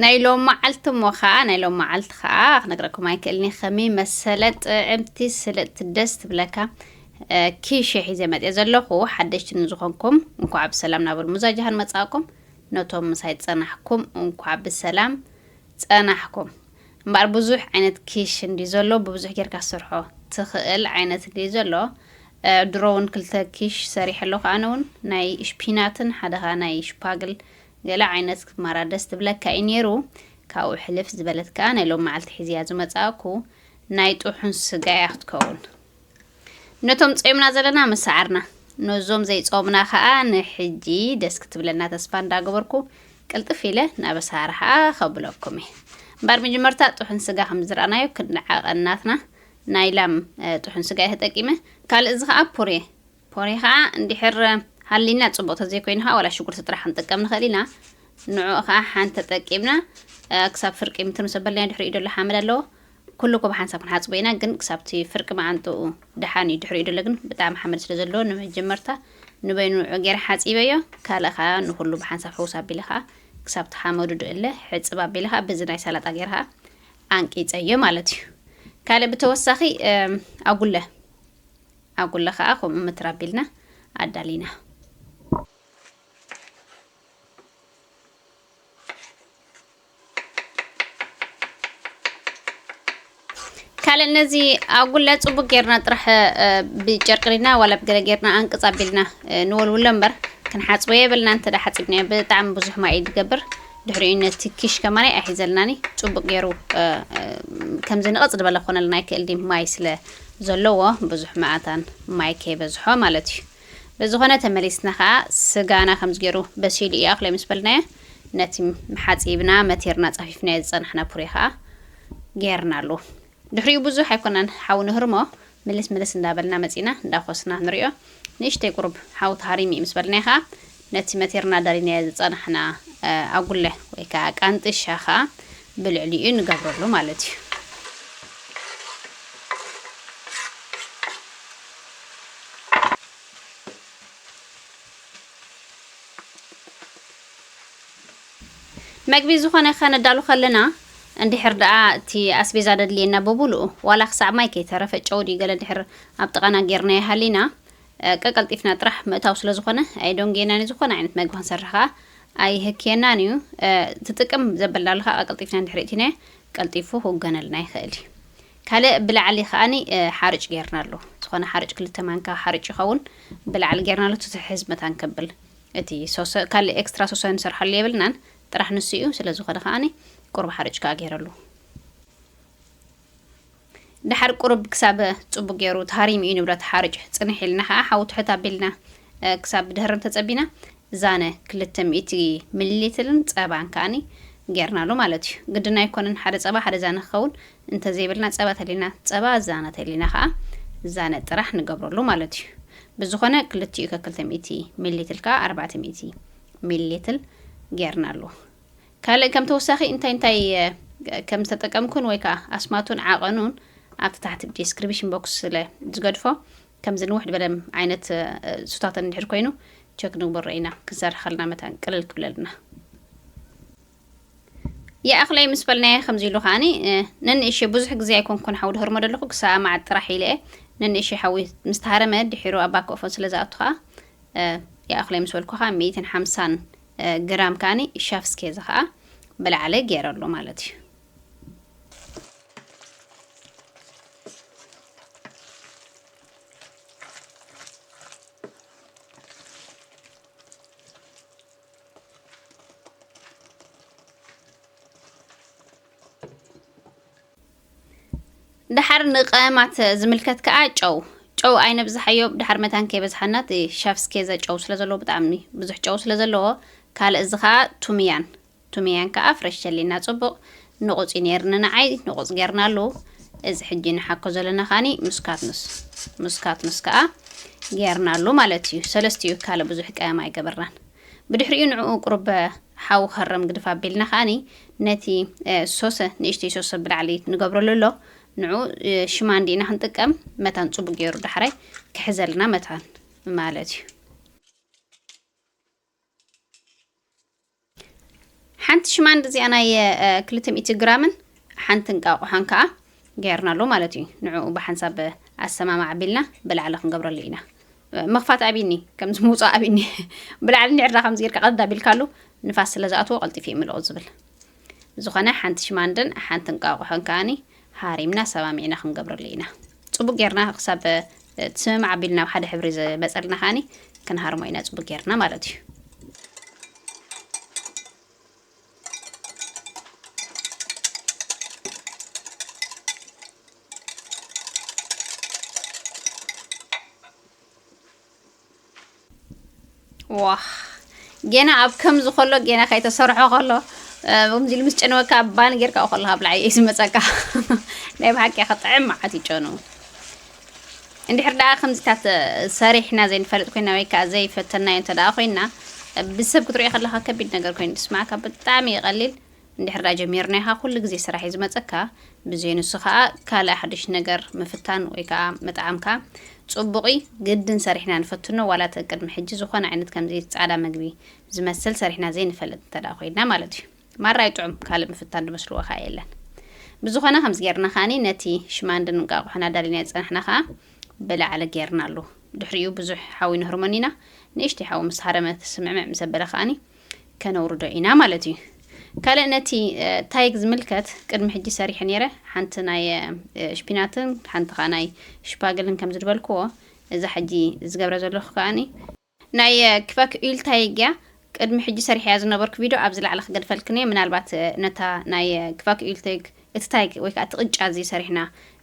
ናይ ሎም መዓልቲ እሞ ከዓ ናይ ሎም መዓልቲ ከዓ ክነግረኩም ኣይክእልን እየ ከመይ መሰለ ጥዕምቲ ስልጥቲ ደስ ትብለካ ኪሸ ሒዘ መፅየ ዘለኹ ሓደሽቲ ንዝኾንኩም እንኳዕ ብሰላም ናብ ልሙዛ ጃሃን መፃእኩም ነቶም ምሳይ ፀናሕኩም እንኳዕ ብሰላም ፀናሕኩም እምበኣር ብዙሕ ዓይነት ኪሽ እንዲ ዘሎ ብብዙሕ ጌርካ ስርሖ ትኽእል ዓይነት እንዲ ዘሎ ድሮ እውን ክልተ ኪሽ ሰሪሐ ኣለኹ ኣነ እውን ናይ ሽፒናትን ሓደ ከዓ ናይ ሽፓግል ገለ ዓይነት ክትማራ ደስ ትብለካ ኢዩ ኔሩ ካብኡ ሕልፍ ዝበለት ከኣ ናይ ሎሚ መዓልቲ ሒዚያ ዝመጻእኩ ናይ ጥሑን ስጋ ኢያ ክትከውን ነቶም ጾምና ዘለና ምስ ሰዓርና ነዞም ዘይጾምና ከኣ ንሕጂ ደስ ክትብለና ተስፋ እንዳገበርኩ ቅልጥፍ ኢለ ናብ ኣሰራርሓኣ ከብለኩም ኢየ እምበር መጀመርታ ጥሑን ስጋ ከም ዝረኣናዮ ክንዓቐ ናትና ናይ ላም ጥሑን ስጋ ኢየ ተጠቂመ ካልእ እዚ ከኣ ፑሬ ፖሬ ከኣ እንድሕር ሃሊና ጽቡቅ ተዘይኮይኑ ከኣ ዋላ ሽጉርቲ ጥራሕ ክንጥቀም ንክእል ኢና ንዑኡ ከኣ ሓንቲ ተጠቂምና ክሳብ ፍርቂ ምትኑ ሰበልና ድሕሪኡ ደሎ ሓመድ ኣለዎ ኩሉ ኮብ ሓንሳብ ክንሓጽቦ ኢና ግን ክሳብቲ ፍርቂ መዓንጥኡ ደሓን እዩ ድሕሪኡ ደሎ ግን ብጣዕሚ ሓመድ ስለ ዘለዎ ንመጀመርታ ንበይኑ ንዑ ገይረ ሓጺበዮ ካልእ ከኣ ንኩሉ ብሓንሳብ ሕውስ ኣቢለ ከኣ ክሳብቲ ሓመዱ ድእለ ሕጽብ ኣቢለ ከኣ በዚ ናይ ሰላጣ ገይረ ከኣ ኣንቂጸዮ ማለት እዩ ካልእ ብተወሳኺ ኣጉለ ኣጉለ ከኣ ከምኡ ምትር ኣቢልና ኣዳሊና። ካልእ ነዚ ኣጉለ ጽቡቅ ጌርና ጥራሕ ብጨርቅሪና ዋላ ብገለ ጌርና ኣንቅጽ ኣቢልና ንወልውሎ እምበር ክንሓጽቦ የብልና እንተ ሓጺብናዮ ብጣዕሚ ብዙሕ ማይ እዩ ዝገብር ድሕሪኡ ነቲ ኪሽ ከማናይ ኣይሒዘልናኒ ጽቡቅ ጌሩ ከምዚ ንቐጽ ዝበለ ኮነልና ኣይክእል ድዩ ማይ ስለ ዘለዎ ብዙሕ መኣታን ማይ ከይበዝሖ ማለት እዩ ብዝኾነ ተመሊስና ከኣ ስጋና ከምዚ ጌሩ በሲሉ እዩ ኣክለ ምስ በልናዮ ነቲ ሓጺብና መቲርና ጻፊፍናዮ ዝጸናሕና ፑሬ ከኣ ጌርናሉ ድሕሪኡ ብዙሕ ኣይኮናን ሓዊ ንህርሞ ምልስ ምልስ እንዳበልና መጺና እንዳኾስና ንሪኦ ንእሽተይ ቁሩብ ሓው ተሃሪሙ እዩ ምስ በልናዮ ከኣ ነቲ መቲርና ደሊናዮ ዝጸናሕና ኣጉለ ወይ ከኣ ቃንጥሻ ከኣ ብልዕሊኡ ንገብረሉ ማለት እዩ። መግቢ ዝኾነ ከነዳሉ ከለና እንድሕር ደኣ እቲ ኣስቤዛ ደድልየና ብሙሉኡ ዋላ ክሳዕ ማይ ከይተረፈ ጨው ድዩ ገለ እንድሕር ኣብ ጥቓና ጌርናዮ ሃሊና ቀቀልጢፍና ጥራሕ ምእታው ስለ ዝኾነ ኣየዶንግየናን እዩ ዝኾነ ዓይነት መግቢ ክንሰርሕ ከኣ ኣይህክየናን እዩ እቲ ጥቅም ዘበልናሉ ከኣ ቀቀልጢፍና እንድሕር እእቲናዮ ቀልጢፉ ክውገነልና ይኽእል እዩ ካልእ ብላዕሊ ከኣኒ ሓርጭ ጌርናሉ ዝኾነ ሓርጭ ክልተ ማንካ ሓርጭ ይኸውን ብላዕሊ ጌርናሉ ትትሕዝ መታን ከብል እቲ ሶሰ ካልእ ኤክስትራ ሶሰ ንሰርሓሉ የብልናን ጥራሕ ንሱ እዩ ስለዝኾነ ከኣ ቁሩብ ሓርጭ ከኣ ገይረሉ ድሓር ቁሩብ ክሳብ ጽቡቅ ገይሩ ተሃሪሙ እዩ ንብረት ሓርጭ ጽንሕ ኢልና ከኣ ሓዊ ትሕት ኣቢልና ክሳብ ድህርም ተጸቢና ዛነ ክልተ ሚእቲ ሚሊ ሊትርን ጸባን ከኣ ገርናሉ ማለት እዩ ግድን ኣይኮነን ሓደ ጸባ ሓደ ዛነ ክኸውን እንተዘይብልና ጸባ ተልዩና ጸባ ኣዛነ ተልዩና ከኣ ዛነ ጥራሕ ንገብረሉ ማለት እዩ። ብዝኾነ ክልቲኡ ከክልተ ሚእቲ ሚሊትል ከኣ ኣርባዕተ ሚእቲ ሚሊትል ጌርናሉ። ካልእ ከም ተወሳኺ እንታይ እንታይ ከም ዝተጠቀምኩን ወይ ከኣ ኣስማቱን ዓቐኑን ኣብቲ ታሕቲ ዲስክሪፕሽን ቦክስ ስለ ዝገድፎ ከምዚ ንውሕ ዝበለ ዓይነት ሱታተን እንድሕር ኮይኑ ቸክ ንግበሮ ኢና ክንሰርሕ ከለና መታን ቅልል ክብለልና ይኣኽለይ ምስ በልናየ ከምዚ ኢሉ ከዓኒ ነንእሽተይ ብዙሕ ግዜ ኣይኮንኩን ሓዊ ድህርሞ ዘለኹ ክሳብ መዓት ጥራሕ ኢለ ነንእሽተይ ሓዊ ምስ ተሃረመ ድሒሩ ኣብ ባኮፎን ስለ ዝኣቱ ከዓ ይኣኽለይ ምስ በልኩ ከዓ ሚእትን ሓምሳን ግራም ከዓኒ ሻፍስኬዝ ከዓ ብላዕሊ ገይረሉ ማለት እዩ ድሓር ንቀመማት ዝምልከት ከዓ ጨው ጨው ኣይነብዝሓዮ ድሓር መታን ከይበዝሓና እቲ ሸፍስ ኬዘ ጨው ስለ ዘለዎ ብጣዕሚ ብዙሕ ጨው ስለ ዘለዎ ካልእ እዚ ከዓ ቱምያን ቱምያን ከዓ ፍረሽ ሸሊና ፅቡቅ ንቑጽ እዩ ነይሩ ንንዓይ ንቑጽ ጌርናሉ እዚ ሕጂ ንሓኮ ዘለና ከኣኒ ምስ ካትኑስ ምስ ካትኑስ ከኣ ጌርናሉ ማለት እዩ ሰለስቲኡ ካልእ ብዙሕ ቀያም ኣይገበርናን ብድሕሪኡ ንዕኡ ቁርበ ሓው ከረም ግድፍ ኣቢልና ከኣኒ ነቲ ሶሰ ንእሽተይ ሶሰ ብላዕሊ ንገብረሉ ኣሎ ንዑ ሽማ እንዲና ክንጥቀም መታን ጽቡቅ ገይሩ ዳሕራይ ክሕዘልና መታን ማለት እዩ ሓንቲ ሽማንድ እዚኣ ናይ ክልተ ሚእቲ ግራምን ሓንቲ እንቃቑሖን ከዓ ገይርናሉ ማለት እዩ ንዕኡ ብሓንሳብ ኣሰማማዕ ኣቢልና ብላዕሊ ክንገብረሉ ኢና መኽፋት ኣቢኒ ከምዚ ምውፃእ ኣቢኒ ብላዕሊ ንዕራ ከምዚ ጌርካ ቀዳ ኣቢልካሉ ንፋስ ስለ ዝኣትዎ ቀልጢፉ ይምልኦ ዝብል ብዝኾነ ሓንቲ ሽማንደን ሓንቲ እንቃቆሖን ከኣኒ ሃሪምና ሰማሚዕና ክንገብረሉ ኢና። ጽቡቅ ጌርና ክሳብ እቲ ስምምዕ ኣቢልና ኣብ ሓደ ሕብሪ ዝመጸልና ከኣኒ ክንሃርሞ ኢና ጽቡቅ ጌርና ማለት እዩ። ዋህ ጌና ኣብ ከምዚ ከሎ ጌና ከይተሰርሖ ከሎ ከምዚ ኢሉ ምስ ጨነወካ ባን ጌርካ ከለካ ብላዕ እዩ ዝመፀካ ናይ ብሓቂ ከጥዕም መዓት ይጨኑ እንድሕር ደኣ ከምዚታት ሰሪሕና ዘይንፈልጥ ኮይና ወይ ከዓ ዘይፈተናዮ እንተ ደኣ ኮይና ብሰብ ክትሪኦ ከለካ ከቢድ ነገር ኮይኑ ስማዕካ ብጣዕሚ ይቀሊል እንድሕር ድኣ ጀሚርናኻ ኩሉ ግዜ ስራሕ እዩ ዝመጸካ ብዘይ ንሱ ከኣ ካልእ ሓዱሽ ነገር ምፍታን ወይ ከኣ ምጥዓምካ ጽቡቕ እዪ ግድን ሰሪሕና ንፈትኖ ዋላ እቲ ቅድሚ ሕጂ ዝኾነ ዓይነት ከምዚ ጻዕዳ መግቢ ዝመስል ሰሪሕና ዘይንፈልጥ እንተ ድኣ ኮይና ማለት እዩ ማራ እዩ ጥዑም ካልእ ምፍታን ድመስልዎ ከኣ የለን ብዝኾነ ከምዚ ጌርና ከኣ ነቲ ሽማንድን እንቃቑሖን ኣዳሊናዮ ዝጸናሕና ከኣ ብላዕሊ ጌርናሉ ድሕሪኡ ብዙሕ ሓዊ ነህርሞን ኢና ንእሽተይ ሓዊ ምስ ሃረመት ስምዕምዕ ምስ ኣበለ ከኣ ከነውርዶ ኢና ማለት እዩ። ካልእ ነቲ ታይግ ዝምልከት ቅድሚ ሕጂ ሰሪሐ ነይረ ሓንቲ ናይ ሽፒናትን ሓንቲ ከዓ ናይ ሽፓግልን ከም ዝድበልክዎ እዛ ሕጂ ዝገብረ ዘለኹ ከዓኒ ናይ ክፈክ ኡል ታይግ እያ ቅድሚ ሕጂ ሰሪሐያ ዝነበርኩ ቪድዮ ኣብዚ ላዕሊ ክገድፈልክን እየ ምናልባት ነታ ናይ ክፈክ ኡል ታይግ እቲ ታይግ ወይ ከዓ እቲ ቅጫ እዚ ሰሪሕና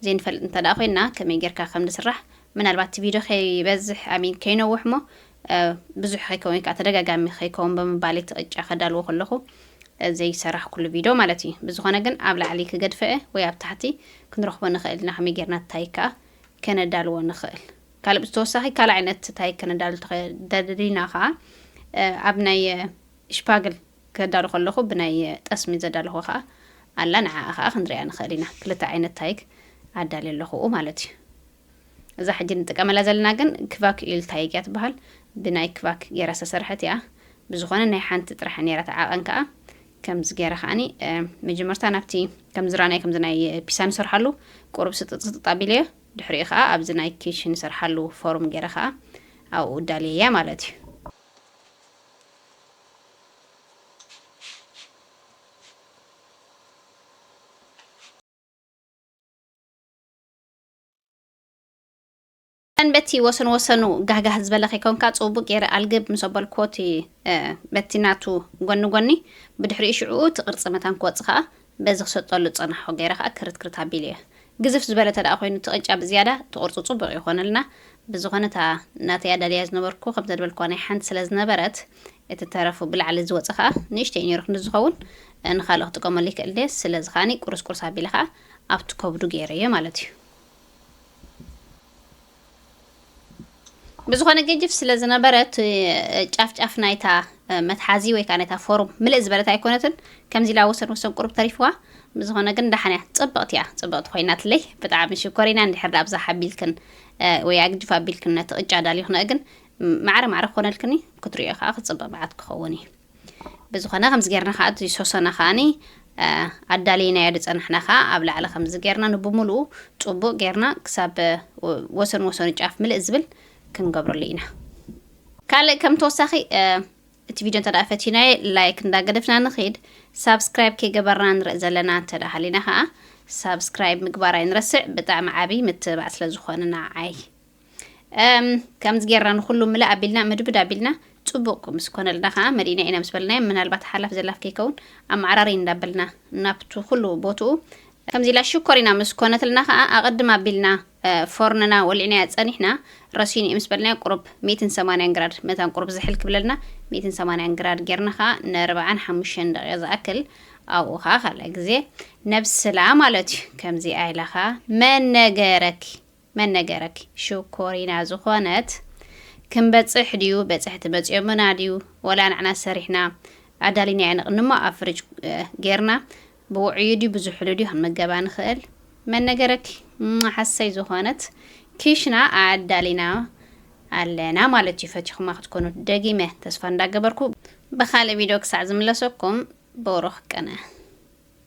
ዘይንፈልጥ እንተደኣ ኮይና ከመይ ጌርካ ከም ዝስራሕ ምናልባት እቲ ቪድዮ ከይበዝሕ ኣሚን ከይነውሕ እሞ ብዙሕ ከይከውን ወይ ከዓ ተደጋጋሚ ከይከውን ብምባል እቲ ቅጫ ከዳልዎ ከለኹ ዘይሰራሕኩሉ ቪድዮ ማለት እዩ። ብዝኾነ ግን ኣብ ላዕሊ ክገድፈ ወይ ኣብ ታሕቲ ክንረኽቦ ንኽእል ኢና ከመይ ጌርና ታይ ከዓ ከነዳልዎ ንኽእል። ካልእ ብተወሳኺ ካልእ ዓይነት ታይ ከነዳሉ ተደሊና ከዓ ኣብ ናይ ሽፓግል ከዳሉ ከለኹ ብናይ ጠስሚ ዘዳለኹ ከዓ ኣላ ንዓኣ ከዓ ክንሪኣ ንኽእል ኢና። ክልተ ዓይነት ታይክ ኣዳልየ ኣለኹ ማለት እዩ። እዛ ሕጂ ንጥቀመላ ዘለና ግን ክቫክዩል ታይግ እያ ትበሃል ብናይ ክቫክ ጌራ ዝተሰርሐት እያ ብዝኾነ ናይ ሓንቲ ጥራሕ ኔራ እታ ዓቐን ከኣ ከምዚ ጌረ ከኣኒ መጀመርታ ናብቲ ከምዚ ራእናይ ከምዚ ናይ ፒሳ ንሰርሓሉ ቁሩብ ስጥጥ ስጥጥ ኣቢለዮ ድሕሪኡ ከኣ ኣብዚ ናይ ኪሽ ንሰርሓሉ ፎርም ጌረ ከኣ ኣብኡ ዳልየያ ማለት እዩ በቲ ወሰን ወሰኑ ጋህጋህ ዝበለ ከይኮንካ ጽቡቅ ገይረ ኣልግብ ምስ ኣበልክዎ እቲ በቲ ናቱ ጎኒ ጎኒ ብድሕሪኡ ሽዕኡ እቲ ቅርጺ መታን ክወጽእ ከኣ በዚ ክሰጠሉ ጸናሖ ገይረ ከኣ ክርት ክርት ኣቢሉ እየ ግዝፍ ዝበለ ተደኣ ኮይኑ እቲ ቅጫ ብዝያዳ ተቆርጹ ጽቡቅ ይኾነልና ብዝኾነ እታ ናተይ ኣዳልያ ዝነበርኩ ከም ዘድበልክዋ ናይ ሓንቲ ስለ ዝነበረት እቲ ተረፉ ብላዕሊ ዝወጸ ከኣ ንእሽተይ ነይሩ ክንዲ ዝኸውን ንኻልእ ክጥቀመሉ ይክእል ድየ ስለዚ ከኣ ቁርስ ቁርስ ኣቢለ ከኣ ኣብቲ ከብዱ ገይረዮ ማለት እዩ። ብዝኾነ ገጅፍ ስለ ዝነበረ እቲ ጫፍ ጫፍ ናይታ መትሓዚ ወይ ከዓ ናይታ ፎርም ምልእ ዝበለት ኣይኮነትን ከምዚ ኢላ ወሰን ወሰን ቁርብ ተሪፍዋ ብዝኾነ ግን ዳሓን እያ ፅብቕቲ እያ ፅብቕቲ ኮይናትለይ ብጣዕሚ ሽኮሪና እንድሕር ዳኣ ብዛሓ ኣቢልክን ወይ ኣግጅፍ ኣቢልክን ነቲ ቅጫ ዳሊኽንኦ ግን ማዕረ ማዕረ ክኾነልክኒ ክትሪኦ ከዓ ክፅብቕ መዓት ክኸውን እዩ ብዝኾነ ከምዚ ጌርና ከዓ እቲ ሶሰና ከዓኒ ኣዳሊናዮ ዝፀናሕና ከዓ ኣብ ላዕሊ ከምዚ ጌርና ንብምልኡ ፅቡቅ ጌርና ክሳብ ወሰን ወሰኑ ጫፍ ምልእ ዝብል ክንገብረሉ ኢና ካልእ ከም ተወሳኺ እቲ ቪድዮ እንተ ፈቲናዮ ላይክ እንዳገደፍና ንኽድ ሳብስክራይብ ከይገበርና ንርኢ ዘለና እንተ ሃሊና ከዓ ሳብስክራይብ ምግባር ኣይንረስዕ ብጣዕሚ ዓብይ ምትብባዕ ስለ ዝኾንና ዓይ ከምዚ ጌርና ንኩሉ ምልእ ኣቢልና ምድብድ ኣቢልና ፅቡቅ ምስ ኮነልና ከዓ መሊእና ኢና ምስ በልናዮ ምናልባት ሓላፍ ዘላፍ ከይከውን ኣመዓራሪ እንዳበልና ናብቲ ኩሉ ቦትኡ ከምዚ ኢላ ሽኮር ኢና ምስ ኮነትልና ከዓ ኣቐድም ኣቢልና ፎርንና ወሊዕናያ ፀኒሕና ረሲኑ እዩ ምስ በልናዮ ቁሩብ ሚእትን ሰማንያን ግራድ መታን ቁሩብ ዝሕል ክብለልና ሚእትን ሰማንያን ግራድ ጌርና ከዓ ንርብዓን ሓሙሽተን ደቂቕ ዝኣክል ኣብኡ ከዓ ካልእ ግዜ ነብስላ ማለት እዩ ከምዚኣ ኢላ ከዓ መን ነገረኪ መን ነገረኪ ሽኮሪና ዝኮነት ክንበፅሕ ድዩ በፅሕቲ መፅዮምና ድዩ ወላ ንዕና ሰሪሕና ኣዳሊናዮ ንቅንሞ ኣብ ፍርጅ ገይርና ብውዑዩ ድዩ ብዙሕሉ ድዩ ክንምገባ ንክእል መን ነገረኪ ሓሰይ ዝኮነት ኪሽና ኣዳሊና ኣለና ማለት እዩ ፈቲኹማ ክትኮኑ ደጊመ ተስፋ እንዳገበርኩ ብካልእ ቪድዮ ክሳዕ ዝምለሰኩም ብሩኽ ቅነ